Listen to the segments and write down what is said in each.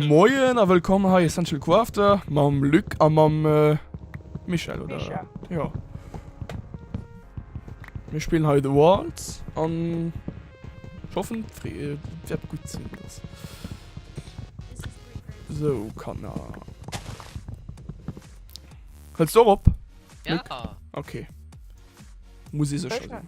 Moien a wëllkomm hei Essential Co After mam Luc a mam Michel oder Misha jo. Mir spillen hei The Walls an ech hoffen et wäert gutt sinn dass So Kanner Hëls de och op Luc? Ok muss ee sécher sinn.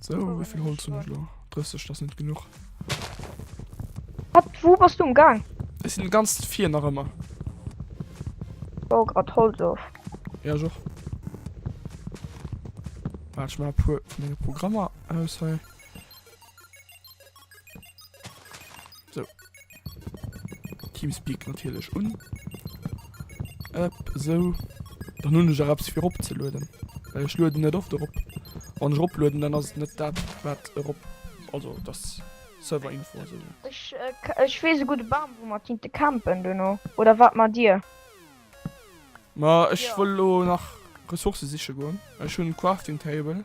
So, wéi vill Holz hunn ech lo? 30, dat ass net genuch. Wat, wou bass du umgaang? Ech sinn ganz vir nach ëmmer. Ech baue grad Holz of. Ja, ech och. Waart, ech maache puer vu menge Programmer aus hei. So. Teamspeak natierlech un. Ep, esou. Dann hunn ech och eppes fir eropzelueden. Well ech lueden net oft erop. Wann ech eroplueden, dann ass et net dat, wat erop. Also dass Serverinfo a sou. Ech, ech weess e gudde Bam, wou mer kinnte campen duerno. Oder wat matt Dir? Ma ech wëll elo nach Ressourcë siche goen. Ech hunn Crafting Table.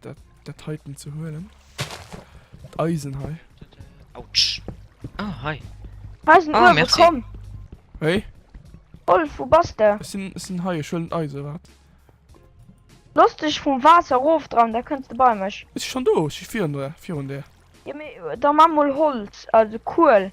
Dat, dat heiten ze huelen. Eisen hei. Autsch. Ah, hei. Eisen ah, Uwe, komm. Hey? Wolf, wo bas de? Es sinn, es sinn hei, ech huelen Eise, wat? Lass dich vum Wasser rof dran, da kënns de bei mech. Is schon do, ech fir an der, fir an der. Ja, me, da ma mol Holz, also Kuel.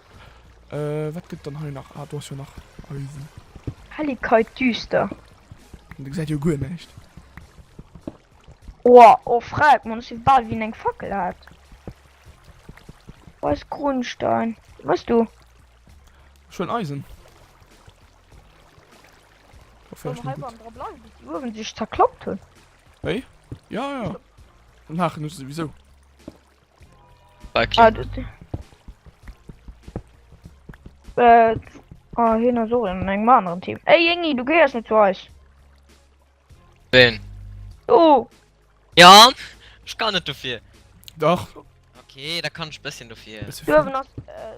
Äh wat gëtt dann hei nach? Ah do ass jo nach Eisen. Helligkeit düster. An dir gesäit jo guer näischt. Oha, oh freck man, si bal wien eng Fackel hat. Weis Grundstein. Wëss du? Schon Eisen. Dann hei beim dra bleiwen, bis déi uewen sech zerklappt hunn. Wéi? Ja, ja. Maachen ech souwisou. Like. Ah, du, du. Äh, ah, hin und so in einem anderen Team. Ey, Jengi, du gehörst nicht zu euch. Wen? Du. Ja, ich kann nicht dafür. Doch. Okay, da kann ich ein bisschen dafür. Du hast, äh,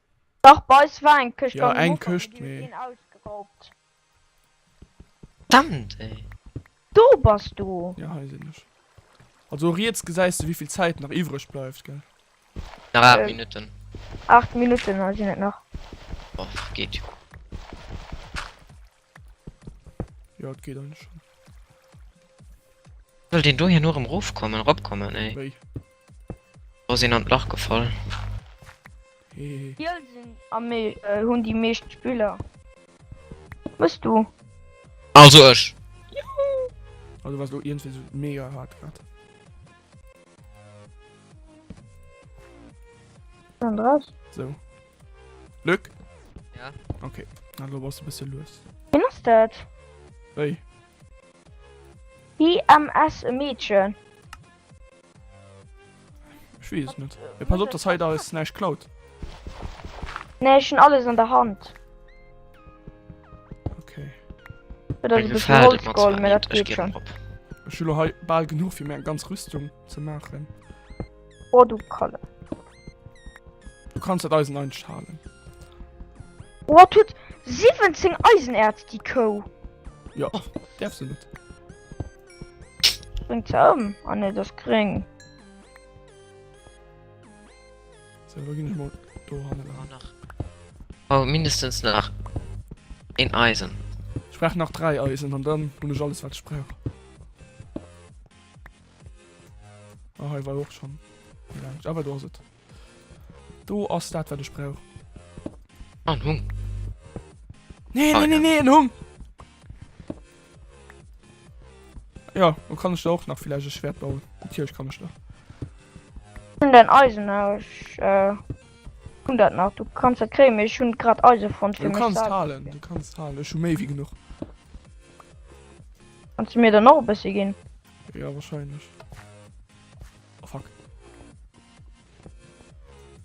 Dach bei eis war eng Këscht Jo eng Këscht mee. Verdammt ey. Do bass du! Jo hei sinn ech. Also riets gesäis de wéivill Zäit nach iwwreg bleift gell. Nach 8 Minutten. 8 Minutten sinn et nach. Och geet jo. Jo, et geet eigentlech schon. Soll deen do hierno erem rofkommen, eropkommen, ey? Wéi? Do ass een an d'Lach gefall. Hehehe. Kiel sinn am mee hunn déi meescht Spiller. Wëss du? Also ech! Juhu! Also du waars elo ierndwéi esou mega haart grad. An raus. Sou. Luc? Ja. Okay, na lo bass du bësse lues. Wien ass dat? Wéi? IMS e Meedchen. Ech weess net. Ja, pass op, dass hei da is näischt klaut. Nee, ech hun alles an der Hand. Okay. Dat ass Eng e bëssen Gefährt, et mat Holzkohl, zwar mee dat net. Ech geet ginn schon. drop. Ech hu lo hei bal genuch fir mir eng ganz Rüstung ze maachen. Oh, du Kalle. Du kannst dat Eisen einschalen. Oh, tut 17 Eisenerz die Kou. Ja, darfst du nicht. Bringt sie um. Ah ne, das gering. So, da gehen ich mal da ran. Oh, mindestens nach ein Eisen. Ich brauche nach drei Eisen und dann bin ich alles, was ich brauche. Oh, hei war och schon Mensch, aber do se Do ass dat wat ech brauch An ah, Hung Nee ah, nee nee en Hung Ja wo kann ech auch nach vielleicht e Schwert bauen Tierch kann ech nach Hun den Eisen aus äh, hun dat nach du kannst dat kréim ech hun grad Eise von Du kannst halen du kannst halen schon méi wie genug Kannst du mir dann noch e bësse ginn? Jo wahrscheinlech. Oh fuck.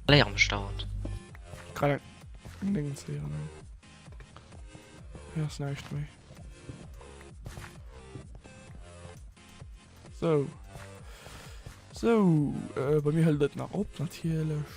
Léi am Start. Kann eng Ding zeeën eng. Hei ass näischt méi. So. So, äh, bei mir hëlt et nach op natierlech.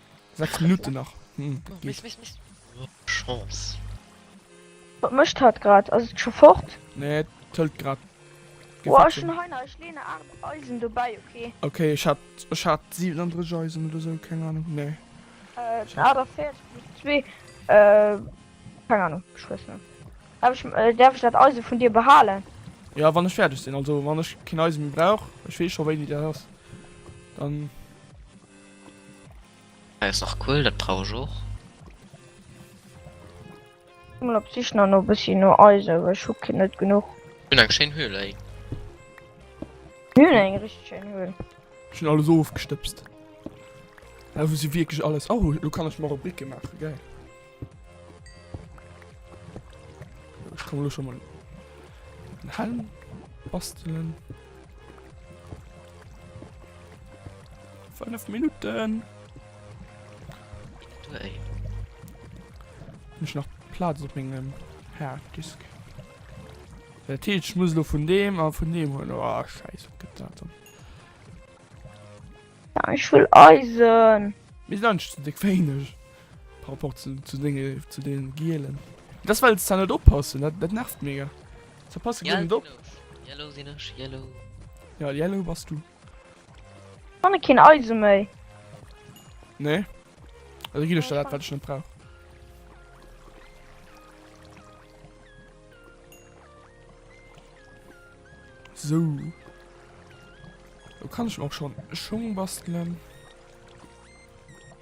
6 Minutten nach. Wat mecht hat grad as et scho fort? Nee et hëlt grad. Okay ech hat ech hat 37 Eisen oder sou keng Ahnung nee. Keng Ahnung ech weess net. Hab ech däerf ech dat Eisen vun dir behalen? Jo wann ech fäerdeg sinn, also wann ech keen Eisen méi brauch, ech weess scho wéini dat ass dann. Hei ass nach Kuel, dat brauch ech och. Ech sinn op d'Sich nach no bëssi no Eisen, well ech hu keen, net genuch. Ech hunn eng schéin Höhle hei. Ech hunn eng richteg schéin Höhle. Ech hunn alles ofgestëbst. Hei hu si wierklech alles. Oh, elo kann ech mer och Bricke maachen, gäil. Ich komme schon mal einen Helm basteln. Fünf Minuten. Hey. Mich nach Platz bringen. Herr Disk. Der Teach muss nur von dem, aber von dem holen. Oh, scheiße, Gedanken. Ja, ich will Eisen. Wir sind nicht so dick wenig. Par rapport zu, zu dinge, zu den gielen. Das weil es da net oppassen, dat, dat nervt mega. Da passe ja, net op. Yellow sinn ech, yellow. Ja, yellow bass du. Wann keen Eise méi. Nee. Also gi dat wat net brauch. So. Da kann ich auch schon Schung basteln.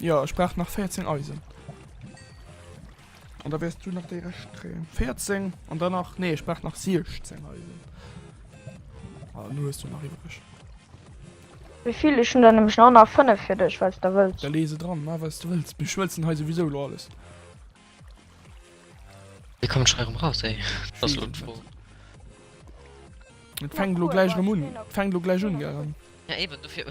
Jo, ech brauch nach 14 Eisen. An da wäers du nach déi Rescht kréien. 14 an dann nach, nee, ech brauch nach 16 Eisen. Ah, nu hues du nach iwwereg. Wéi vill? Ech hunn der nämlech nach nach 5 fir dech, falls der wëlls. Da lee se dran, ma wat s du wëlls. Mir schmëlzen hei souwisou elo alles. Wéi kommen d'Schei erëm raus, ey? Dat ass elo d'Fro. Et fänkt elo gläich erëm un. Et fänkt elo gläich un, Garen. Ja, eben, dofir.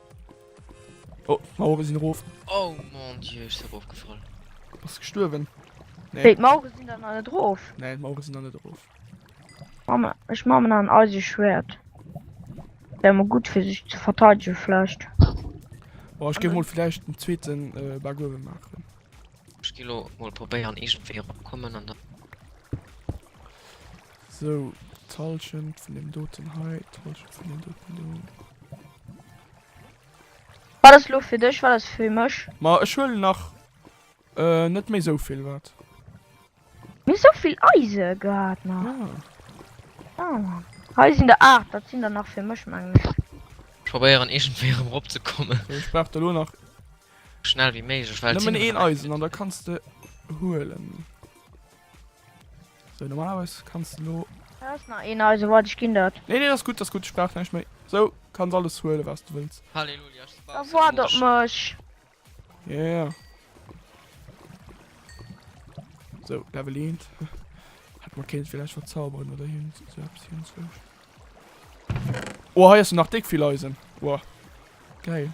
Oh, Mauere sinn erof. Oh mon Dieu, ech si erofgefall. Bass gestuerwen? Nee. Wéi, d'Mauere sinn dann nach net erof? Nee, d'Mauere sinn nach net erof. Mama, ech mache mir nach en Eiseschwert. Wär mol gutt fir sech ze verteidege vläicht. Boah, ech géif mol vläicht den zweeten äh, Bug uewe maachen. Ech gi lo mol probéieren iergendwéi erop kommen an dann. Sou, d'Halschent vun deem doten hei, d'Halschent vun deem doten do. Wat ass lo fir dech, wat ass fir mech? Ma ech huelen nach net méi sou vill, wat? Mir sou vill Eise gehat nach. Ah. Hei sinn der 8, dat sinn der nach fir mech, mengen ech. Ech probéieren iergendwéi erëm eropzekommen. Ech brauch der lo nach. Schnell ewéi méiglech, well. Nëmmen een Eisen an da kanns de huelen. So normalerweis kanns de lo. Do ass nach een eise wait ech ginn dat. Nee nee ass gutt ass gutt ech brauch näischt méi sou kanns alles huele wats de wëlls. Halleluja ech Da waard op mech. Yeah. So Level eent. Hätt mer kéint villäicht verzauberen oder hierhin sou eppes hierhin zwënschen. Oh hei ass jo nach déck vill Eisen. Wow. Geil.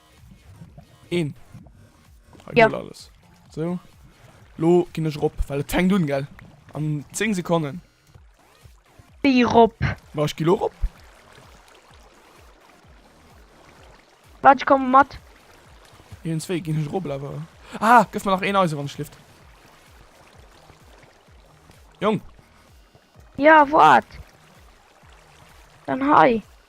Een. Hei ja. alles. So. Lo ginn ech rop, well et fänkt un gell. An 10 Sekonnen. Wie rop? War ich Kilo rop? Wat ich komme mat. Hien zwee ginn ech rop awer. Ah, gëff mir nach een Eise wann schlift. Jong. Ja wat? Dann hei.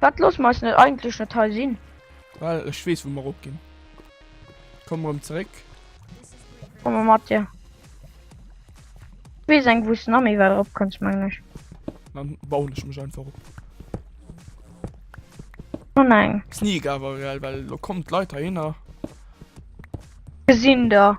Wat loss mer eis net eigentlech net hei sinn? Well ech wees wou mer rop ginn. Komm rem zeréck. Komm mer mat dir. Wees eng wou's na méi wäit rop kanns mengen ech. Dann bauen ech mech einfach op. Oh nein. Sneak awer well lo kommen d'Leit heihinner. Gesinn der.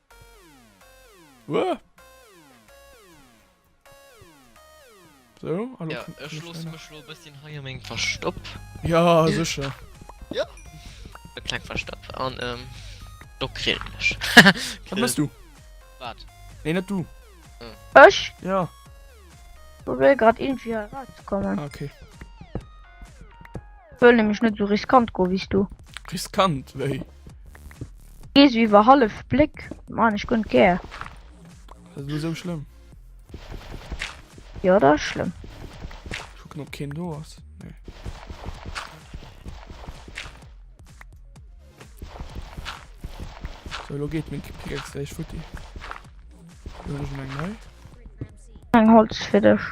Wouah! So, hallo. Ja, ech loosse mech lo e bësschen hei a mengem Verstopp. Ja, sécher. Ja. E kleng Verstopp an, ähm, do grillen ech. Wat mess du? Wat? Nee, net du. Ah. Ech? Ja. Probéier grad iergendwéi hei erauszekommen. Ah, okay. Wëll nämlech net esou riskant goen wéi s du. Riskant wéi? Gees du iwwer hallef Bléck? Maan ech guer net gär. Ass et lo sou schlëmm? Jo, dat ass schlëmm. Ech kucken, ob keen do ass. Nee. So, lo geet meng Pickaxe gläich futti. Huelen ech meng nei. Eng Holz fir dech.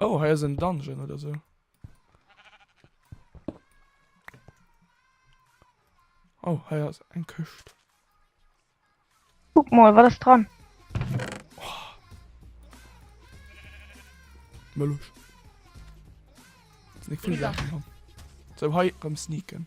Oh, hei ass en Dungeon oder sou. Oh, hei ass eng Këscht. Kuck mol, wat ass dran? Mëllech. Sinn eng vill Saachen dran. Sou, hei rëm sneaken.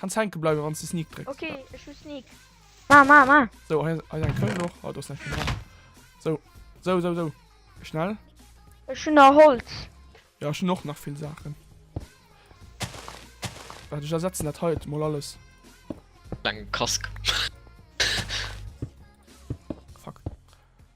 Kanns hänke bleiwen wanns de sneak drécks. Okay, ech hu sneak. Ma ma ma. So, hei hei eng Këll noch. Ah, do ass nach vill dran. So, so, so, so. Schnell. Ech hun nach Holz. Ja, ech hun och nach vill Saachen. Waart, ech ersetzen dat hei mol alles. Eng Kask.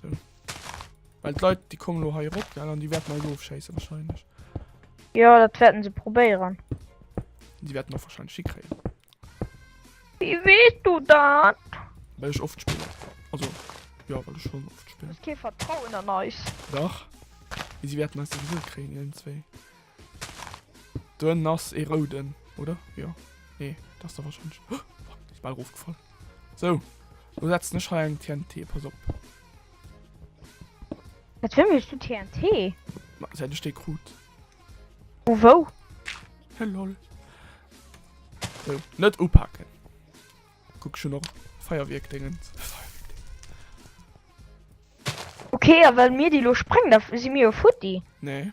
So. Weil d'Leit déi kommen lo hei rop an déi wäert mei ofschéissen wahrscheinlech. Ja dat wäerten se probéieren. Déi wäerten och wahrscheinlech hikréien. Wie wees du dat? Well ech oft spillen. Also ja well ech schon oft spillen. Ke vertrauen an eis. Dach. Wie si wäerten eis sowieso kréien, ieren zwee. Dun ass ee rouden, oder? Jo. Nee, dat ass der warscheinlech. Oh, fuck, ass bal erofgefall. Sou, lo setzen ech hei eng TNT, pass op. Wat fir mech du TNT? Ma, säit ech dee krut. Vu wou? He lol. Sou, net upaken. Kuck, ech hunn och Feierwierkdéngens. Okay, a well mir déi lo sprengen, da si mir jo futti. Nee,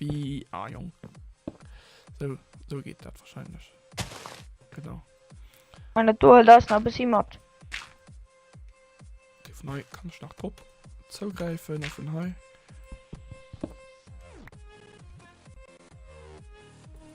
Wéi ah Jong sou sou geet dat wahrscheinlech genau. An dat do huelt eis nach e bëssi mat. Okay, vun hei kann ech nach drop zougräifen a vun hei.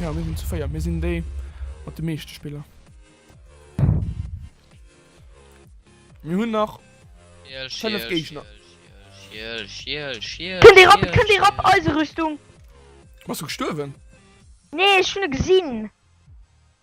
Jo mir sinn zu 4, mir sinn déi mat de meeschte Spiller. Mir hunn nach 5 Géigner. Kënnt ee rap, kënnt ee rap, Eiserüstung! Bass du gestuerwen? Nee ech hunn e gesinn.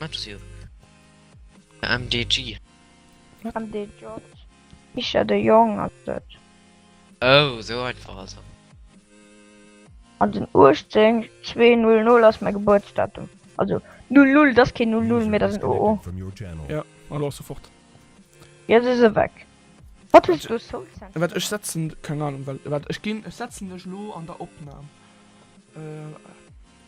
Maps you. MDG. MDJ. Misha de Jong ass dat. Oh, so einfach also. An den 18 200 ass mein Geburtsdatum. Also 00, das kein 00 mehr, das sind OO. Ja, hallo sofort. Jetzt ist er weg. Wat hues du Soul Sand? Wat ech setzen, keng Ahnung, wat ech ginn, ech setzen dech lo an der Opnam. Äh.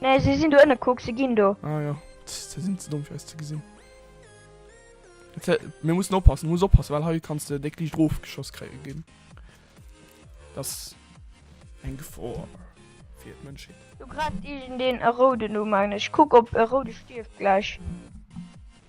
Nee, sie sind do ënne, kuck, sie gin do. Ah jo, se sin ze domm fir eis ze gesin. Mir mussen oppassen, muss oppassen, well hei kanns de déck liicht rofgeschoss kréie gin. Dass eng Gefor fir d'Mënschheet. Do gräift iergendeen e Rouden u, mengen ech. Kuck, op e Roude stierft gläich.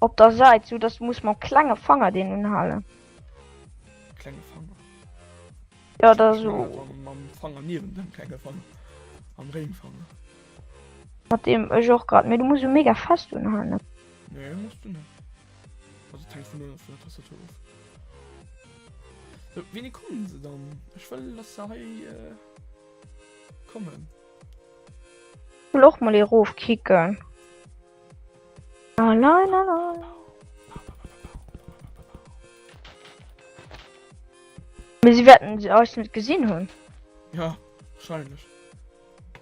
Op der Seit sou dass du muss mam klenge Fanger deen unhalen. Klenge Fanger. Ja da so. Mam Fanger niwen dem klenge Fanger. Am Ring Fanger. Mat dem ech och grad mir du muss mega fest unhalen. Nee, musst du net. Also tank vun der Tastatur of. So, wini kommen se dann? Ech wëll lass se hei äh, kommen. Loch mal e rof kicken. La la la la. Mir sie wetten sie euch net gesinn hunn. Ja, wahrscheinlich.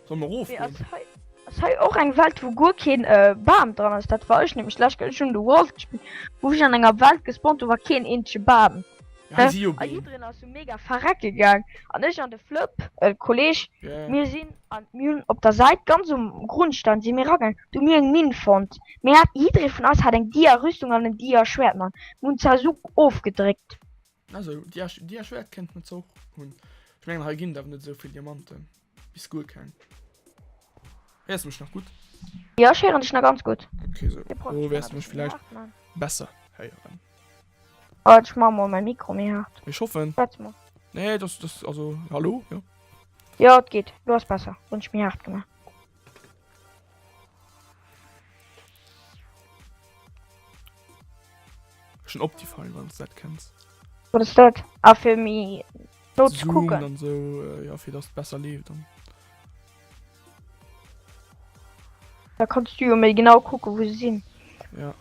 Soll man ruf? Ja, das hei och eng Welt wo guer keen äh, Bam dran ass, dat war ech nämlich lech gëll schon de Wolf gespielt, wo ich an enger Welt gespawnt, do war keen eenzege Bam. Hei si jo A Beem. jiddreen ass jo mega verrecke gaang, an ech an de Flëpp, e Kolleg, mir sinn an d'Mühlen. Op der Säit ganz um Grundstein si mir eragaang, do hu mir eng Minn fonnt. Mir hat, jiddree vun eis hat eng Dia Rüstung an en Dia Schwäert mat. Mir hunn Zazug ofgedréckt. Ah sou, Dia Schwäert kéinten et ze och hunn. Ech mengen hei ginn et awer net esou vill Diamanten. Bis guer keng. Héiers mech nach gutt? Jo, ech héieren dech nach ganz gutt. Okay, sou. Lo wäers de mech villäicht besser héieren. Waart, ech maache mol mäi Mikro méi haart. Ech hoffen. Schwätz mol. Nee, dass, dass, also, hallo, jo. Jo, et geet. Lo ass besser. Hunn ech méi haart gemaach. Schon Optifine, wann s dat kenns. Wat ass dat? Ah, fir méi Lotsch kucken an so ja fir dass besser lebt dann. Da kannst du jo méi genau kucke wou se sinn. Ja.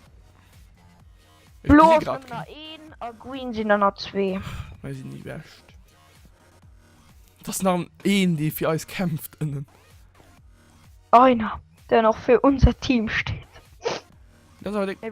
Blo sinn an der 1 a Green sinn an der 2. Mei sinn déi bescht. Dass nach een dee fir eis kämpft ënnen. Einer den och fir unser Team steet. Dat awer de. Ey,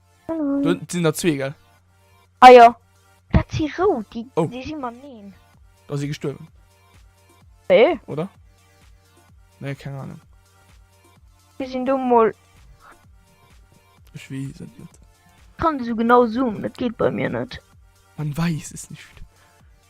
Du sinn der zwee gell? Ah jo Dat si rou Di oh. Di si man neen Da si gestuerwen Ee oder? Nee keng Ahnung Di sinn du moll Ech wee sinn net Kann du so genau zoomen, dat geet bei mir net Man weis es nicht.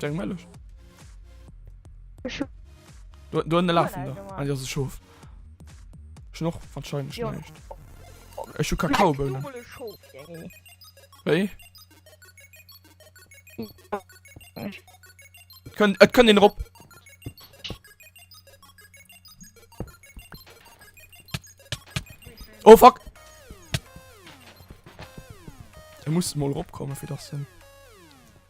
Jack Mellisch. Du, du eine Lachen da. Ah, das ist Schof. Schon noch wahrscheinlich ja. nicht. Ich schon Kakaobohnen. Hey. Können, äh, können den Rob. Oh fuck. Er muss mal Rob kommen für das Sinn.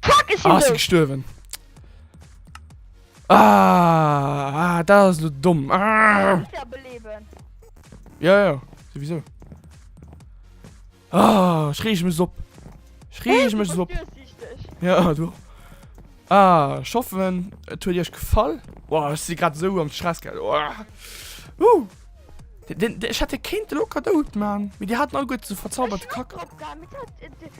Fuck, ech sinn dout! Ah, ech sinn gestuerwen. Ah, ah, dat ass lo domm. Ah! Muss ja beleben. Ja, ja, sowieso. Ah, ech reeg mech op. Ech reeg mech op. Ja, du. Ah, ich hoffe, et huet iech gefall. Boah, ich si grad so am Stress. Oh. Uh. Ech hätte kéint locker dout man wie die hat all gut zu verzaubert kack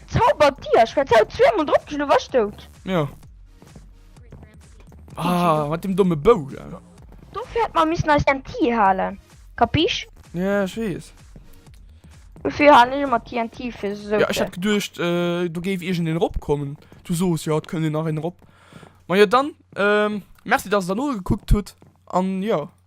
zauber dir ich verzau zweimal drop du was dout ja ah, mit dem dumme bou ja. du fährt man miss nice den ti halen kapisch ja ich weiß Wofür han ich immer TNT für so ja, ich hab gedurcht äh, du gef ir den rob kommen du sos ja können den nach in rob man ja dann ähm, merci dass da nur geguckt tut an ja